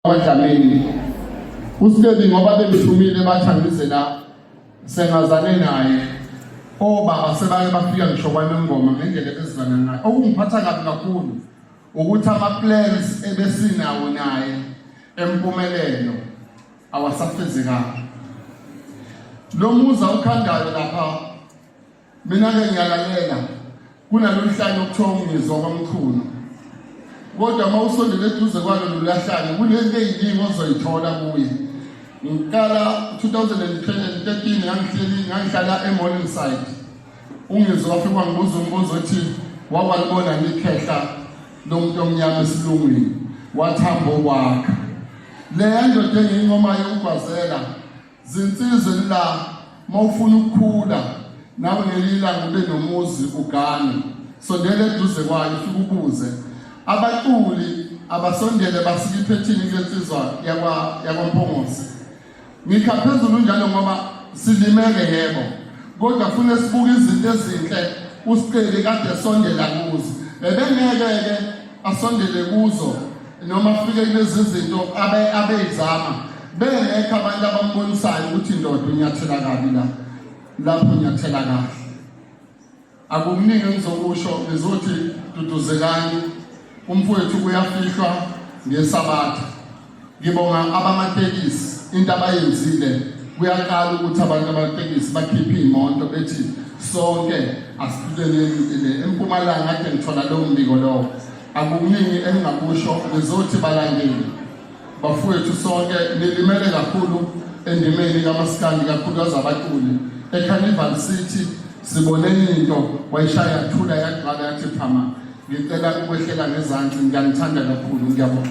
Abadlamini uStebi ngoba bemthumile bathi angize la sengazane naye obaba sebake bafika ngisho kwanongoma ngendlela ebezizana ngayo okungiphatha kabi kakhulu ukuthi ama-plans ebesinawo naye empumelelo awasafezekanga lo muzi awukhandayo lapha Mina-ke ngiyalalela kunaloluhlanya okuthiwa ungizwa kwamkhulu kodwa uma usondele eduze kwalo lulahlanya kunento eyiningi ozoyithola kuye ngiqala 2013 ngangihleli ngangihlala emorningside ungizwa wafika wangibuza umbuzo othi wawalibona ngikhehla lomuntu omnyama esilungwini wathamba okwakha leya ndoda engiyinqomayo ukugwazela Zinsizwe la mawufuna ukukhula nawe ngelila ngube nomuzi ugane sondele eduze kwayo ufike ubuze abaculi abasondele basike iphethini lensizwa yakwa yakwaMphongosi ngikha phezulu njalo ngoba silimele yebo kodwa fune sibuke izinto ezinhle usiqeli kade sondela kuzo bebengeke ke asondele kuzo noma kufike kulezi zinto abeyizama bengekho abantu abambonisayo ukuthi ndoda unyathela kabi la lapho unyathela kahle akukuningi engizokusho ngizothi duduzekani umfowethu kuyafihlwa ngesabatha ngibonga abamatekisi into abayenzile kuyaqala ukuthi abantu abatekisi bakhiphe iy'moto bethi sonke asiphileleni empumalanga kade ngithola lowo mbiko lowo Akukuningi engingakusho ngizothi balandeli bafowethu sonke nilimele kakhulu endimeni kamasikandi kakhulukazi abaculi ecarnival city sibone into wayishaya yathula yagcwala yathi phama ngicela ukwehlela ngezansi ngiyanithanda kakhulu ngiyabonga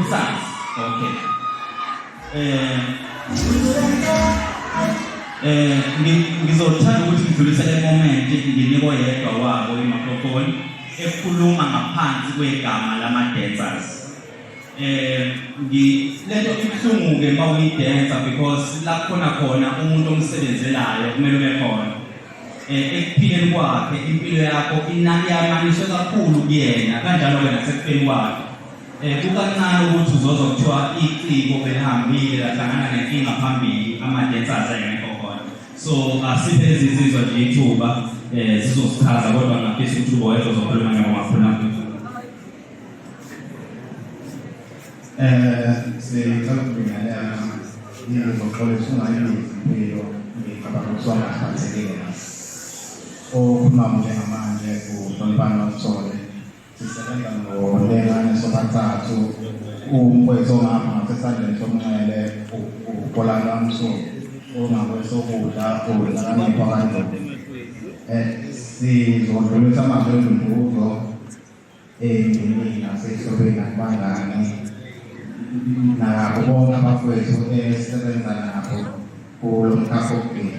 Usazi. Okay. Eh Eh ngizothanda ukuthi ngidlulise le moment nginike oyedwa wabo i-microphone ekhuluma ngaphansi kwegama lama-dancers. Eh ngi lento ibuhlungu-ke uma uyidensa because la khona khona umuntu omsebenzelayo kumele ube khona. Eh ekuphileni kwakhe impilo yakho inani yamaniswe kakhulu kuyena kanjalo-ke nasekufeni kwakhe. Eh, kukancane ukuthi uzozwa kuthiwa iciko belihambile lahlangana nenkinga phambili ama-dancers engekho khona so asiphe lezi nsizwa nje ithuba um zizosichaza kodwa ngafisa ukuthi uboyeza uzokhuluma nyabo makhuluma um sicela ukubingelela ngizoxolisa ungayibizimpilo ngicabanga ukuthi wangaphathekile okhuluma njengamanje uhloniphani wakuthole Sisebenza ngolengane sobathathu umfowethu ongapha ngasesandleni somnxele ukolana msuku ongakwesokudla uhlakanipha kanjani eh, sizodlulisa amazwi endumbuzo endimini nasehlobeni nakubangane nabo bonke abafowethu esebenza nabo kulo mkhakha wokugcina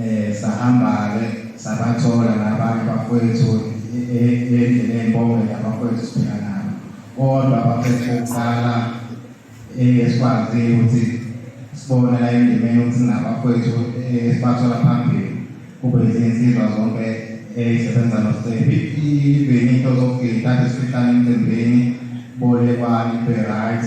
Eh sahamba-ke sabathola nabanye bafowethu endlini ey'mbongweni abafowethu siphila nabo kodwa abafowethu bokuqala esikwazile ukuthi sibone la endimeni ukuthi singabafowethu esibathola phambili kube izinsizwa zonke ezisebenza nosebi even into zokugida kade sifihlane emcimbini bolekwani be-right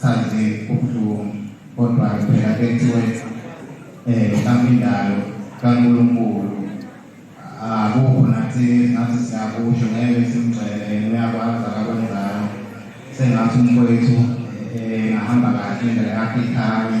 Cha nje kubuhlungu kodwa phela kuthiwe eh kamindalo kaNkulunkulu akukho nathi nathi siyakusho ngeke simgcele uyakwazi akakwenzayo sengathi umfowethu eh ngahamba kahle indlela yakhe ikhanye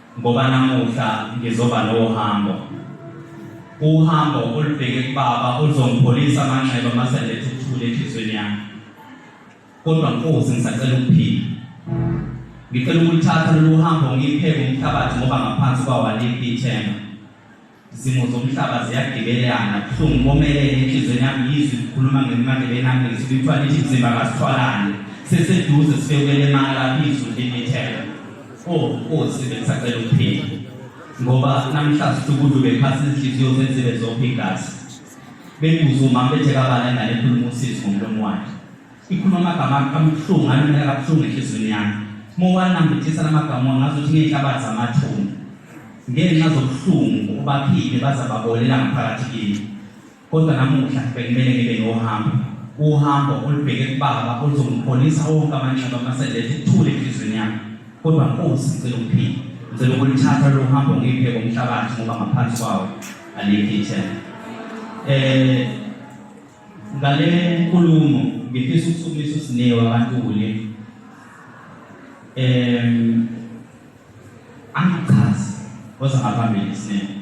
Ngoba namuhla ngizoba nohambo. Uhambo olubheke kubaba oluzongipholisa amanxeba mase ngiletha ukuthula enhlizweni yami. Kodwa Nkosi ngisacela ukuphila. Ngicela ukulithatha lolu hambo ngipheke umhlabathi ngoba ngaphansi kwawo alikho ithemba. Izimo zomhlaba ziyagibelana buhlungu komelele enhlizweni yami yizwi likhuluma ngemandlebeni yami ngizwi lithiwa lithi mzimba kasithwalane seseduze sifewele mala izwi limithela o oh, nkosi bengisacela ukuphila ngoba namhlanje sukudlu bephasi izinhliziyo zenzibe zonke igazi bengibuza umama bethe kabana ingane ekhuluma usizi ngomlomo wakhe Ikhuluma amagama abuhlungu alimela kabuhlungu enhliziyweni yami. Uma uwanambithisa la magama ngazuthi ngey'hlabathi zamathumba ngenxa zobuhlungu obaphile baza babolela ngaphakathi kimi. Kodwa namuhla bekumele ngibe nohambo, uhambo olubheke kubaba oluzongipholisa wonke amanxeba amaseletha ukuthula enhliziyweni yami. Kodwa Nkosi ngicela ukuphila, ngicela ukulithatha lolu hambo ngiphe komhlabathi ngoba ngaphansi kwawo alikho ithemba. Eh Ngale nkulumo ngifisa ukusukumisa uSinewa kaNtuli. Em angichazi koza ngaphambili Sinewa.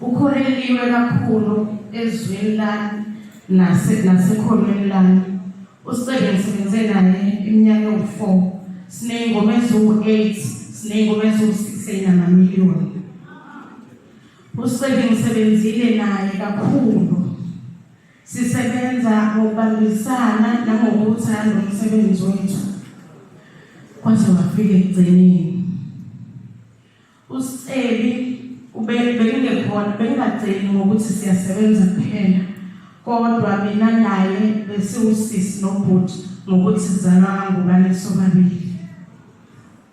Ukhoreliwe kakhulu ezwini lami nase nasekholweni lami. Usebenze senze naye iminyaka ewu-4. Siney'ngoma eziwu-8, siney'ngoma eziwu-6 ey'namaliyoni. Usebenze ngisebenzile naye kakhulu. Sisebenza ngokubambisana nangokuwuthanda umsebenzi wethu kwaze wafika ekugcineni. USceli bengingekhona bengingaceli ngokuthi siyasebenza kuphela kodwa mina naye besiwusisi nobhuti ngokuthi sizalwa kangubane sobabili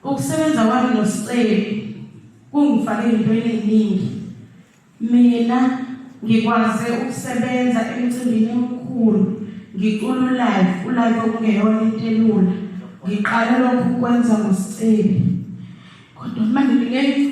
ukusebenza kwami nosiceli kungifake into eningi Mina ngikwaze ukusebenza emcimbini omkhulu ngicula ulive ulive okungeyona into elula ngiqale lokhu ukwenza ngosicebi kodwa manje ngeke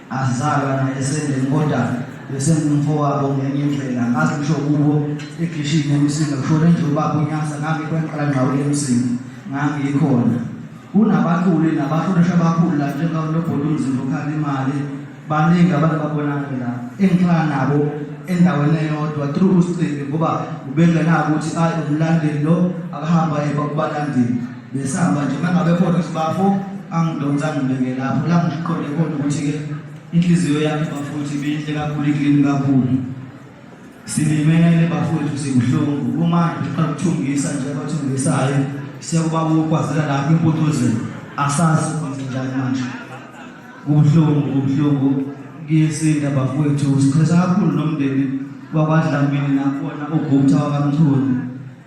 Azizalwa naye esendeni kodwa besengumfowabo ngenye indlela ngazi ngisho kubo ekhishini emsinga kushone nje ubaba unyasa ngangikwenqala ngqawule emsinga ngangiyikhona kunabaculi nabahlonisha abakhulu la njengalobhodi umzimba ukhala imali baningi abantu babonakale la engihlala nabo endaweni eyodwa through usiqimbi ngoba ubengenako ukuthi ayi umlandeli lo akahamba yeba kubalandeli Besihamba nje uma ngabe khona ukuthi bafo angidonsa ngibeke lapho la ngiqonde khona ukuthi-ke inhliziyo yami bafuthi ibinhle kakhulu iklini kakhulu silimele bafowethu sibuhlungu kumanje uqala ukuthungisa nje abathungisayo sekuba ukwazela lapho imputuzelo asazi kwenze njani manje kubuhlungu kubuhlungu kuyesinda bafowethu sichesa kakhulu nomndeni wakwadlamini nakhona ugupta wakamthuni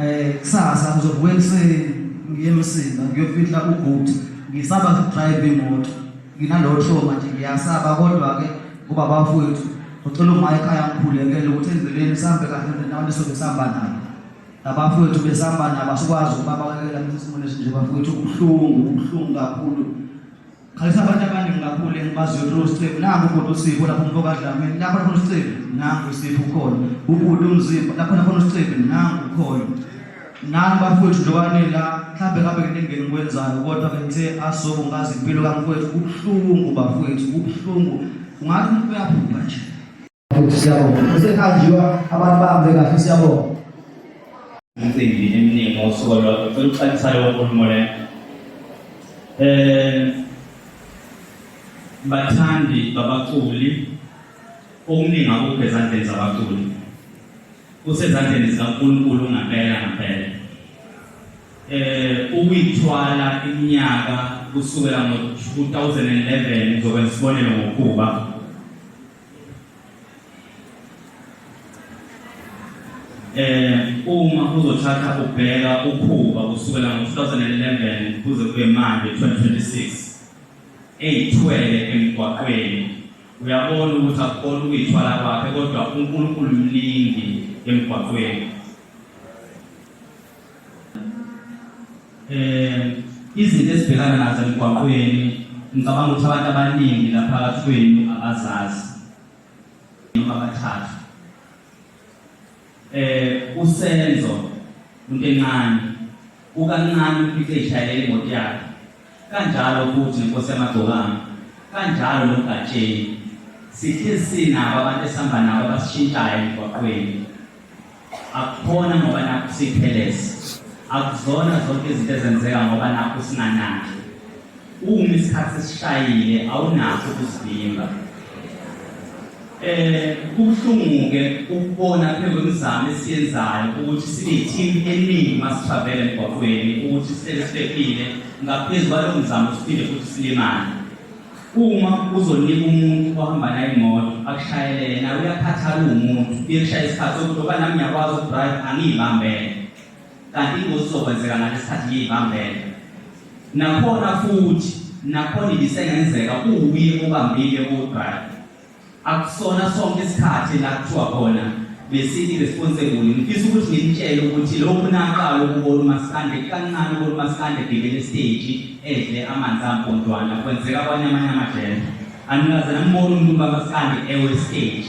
Eh kusasa ngizobuya ekuseni ngiye emsini ngiyofihla ugood ngisaba drive imoto nginalowo trauma nje ngiyasaba kodwa ke kuba bafowethu ngicela uma ekhaya ngikhulekele ukuthi endleleni sambe kahle nendawo sobe samba nayo labafowethu besamba nabo asikwazi ukuba bakekela isimo lesi nje bafowethu ubuhlungu ubuhlungu kakhulu Xhayisa abantu abaningi kakhulu engibaziyo kulo sicebu nangu ubhuti usipho lapho umfo kadlamini lapho nakhona usicebu nangu usipho ukhona ubhuti umzimba lapho nakhona usicebu nangu ukhona nani bafowethu njobani la mhlawumbe ngabe kuningeni ngikwenzayo kodwa ke ngithe asobo ngazi impilo kamfowethu kubuhlungu bafowethu kubuhlungu ungathi umuntu uyaphupha nje Siyabonga. Kusehanjiwa abantu bahambe kahle siyabonga. Imicimbi eminingi ngosuku olwakho. Ngicela ukuxakisa leyo nkulumo leyo. Eh bathandi babaculi okuningi akukho ezandleni zabaculi kusezandleni zikaNkulunkulu ngempela ngempela eh ukuyithwala iminyaka kusukela ngo-2011 ngizokwenza isibonelo ngokuba eh uma uzothatha ubheka ukhuba kusukela ngo-2011 kuze kube manje 2026 eyithwele emgwaqweni uyabona ukuthi akukona ukuyithwala kwakhe kodwa unkulunkulu mningi emgwaqweni Eh izinto esibhekana nazo emgwaqweni ngicabanga ukuthi abantu abaningi lapha kathweni abazazi noma bathathu eh usenzo into encane ukancane uphike ishayele imoto yakhe Kanjalo futhi Nkosi yamagcokama, kanjalo noMgatsheni. Sihlezi sinabo abantu esihamba nabo abasishintshayo emgwaqweni. Akukhona ngoba nakhu siphelezi. Akuzona zonke izinto ezenzeka ngoba nakhu singanaki. Uma isikhathi sishayile awunakho ukuzivimba. Eh kubuhlungu-ke ukubona phela kwemizamo esiyenzayo ukuthi sineteam eningi masitravela emgwaqweni ukuthi sihlele siphephile ngaphezu kwalowo mzamo siphinde futhi silimale uma uzonika umuntu ohamba naye imoto akushayele yena uyakhathala uwumuntu uyekushaya isikhathi sokuthi oba nami ngiyakwazi ukudrive angiyibambele kanti ingozi izokwenzeka ngale sikhathi ngiyibambele nakhona futhi nakhona ibisengenzeka kuwuye obambile ukudrive Akusona sonke isikhathi la kuthiwa khona besini responsible. Ngifisa ukuthi nginitshele ukuthi lokhu naqala ukubona umaskande kancane ukubona umaskande ebhekele esiteji edle amanzi ampontwana kwenzeka kwanye amanye amajele. Anikaze nambona umuntu kamaskande ewe stage.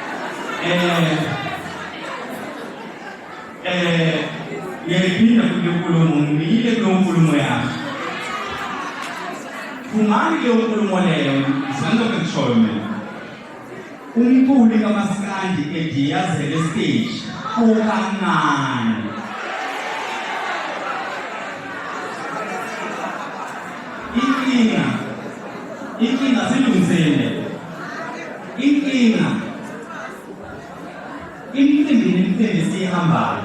Eh, eh, ngiyayiphinda futhi lenkulumo ngiyile kuleyo nkulumo yakho phumani kuleyo nkulumo leyo sandoke kushoyo mina umculi kamasikandi ediyazele stage ukancane inkinga inkinga silungisele Inkinga imicimbi nemicimbi esiyihambayo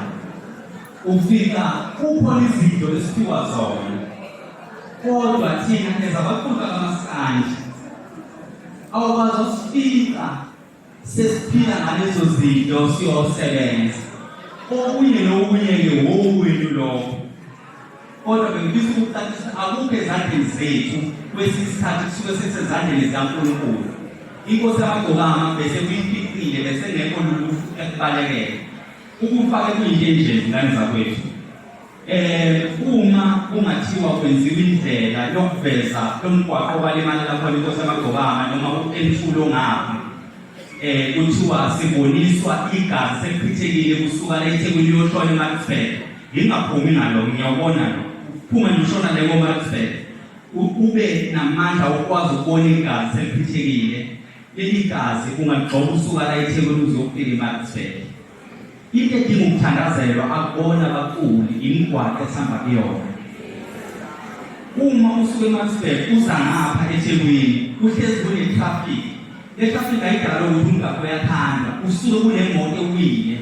ufika kukhona izinto esiphiwa zona kodwa thina ezabaqhuba kamaskanje awukwazi usifika sesiphila ngalezo zinto siyosebenza okunye nokunye-ke wowenu lokho kodwa bengifisa ukucacisa akukho ezandleni zethu kwesinye isikhathi kusuke sesezandleni zikankulunkulu inkosi yamagcokama bese kuyifiqile bese ngekho lulu ekubalekele ukufake kuyinto enje zingane zakwethu um uma kungathiwa kwenziwa indlela yokuveza lomgwaqo obalimali lakhona inkosi yamagcokama noma entulo ngapha eh kuthiwa siboniswa igazi sekuphithekile kusuka la eThekwini yoshona eMaxford Ngingaphumi nalo ngiyawubona lo. Phuma ngishona le ngoma kusele. Ube namandla okwazi ukubona igazi eliphithekile. Leli gazi ungagxoba usuka la eThekwini uzofika eMarksburg. Into edinga ukuthandazelwa akubona abaculi imigwaqo esihamba kuyona. Uma usuke eMarksburg uza ngapha eThekwini kuhlezi kune-traffic. Le traffic ayidala ukuthi umgaqo uyathandwa usuke kunemoto ewile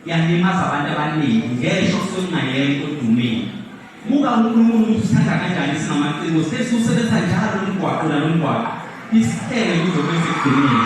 yalimaza abantu abaningi ngesho sokungayekho odumile buka unkulunkulu ukuthi usithanda kanjani singamaciko sesiwusebenzisa njalo lo mgwaqo nalo mgwaqo isihlele kuzobe sekugcinile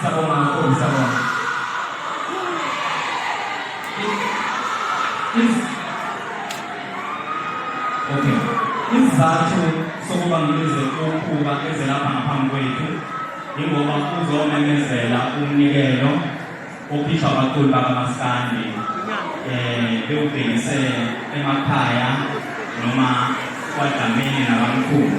Sabonga kakhulu, sabonga. Okay. Isizathu sokuba ngibize ukuba eze lapha ngaphambi kwethu yingoba uzomemezela umnikelo okhishwa abaculi bakamaskandi eh bewubhekise emakhaya noma kwadlamini nabamkhulu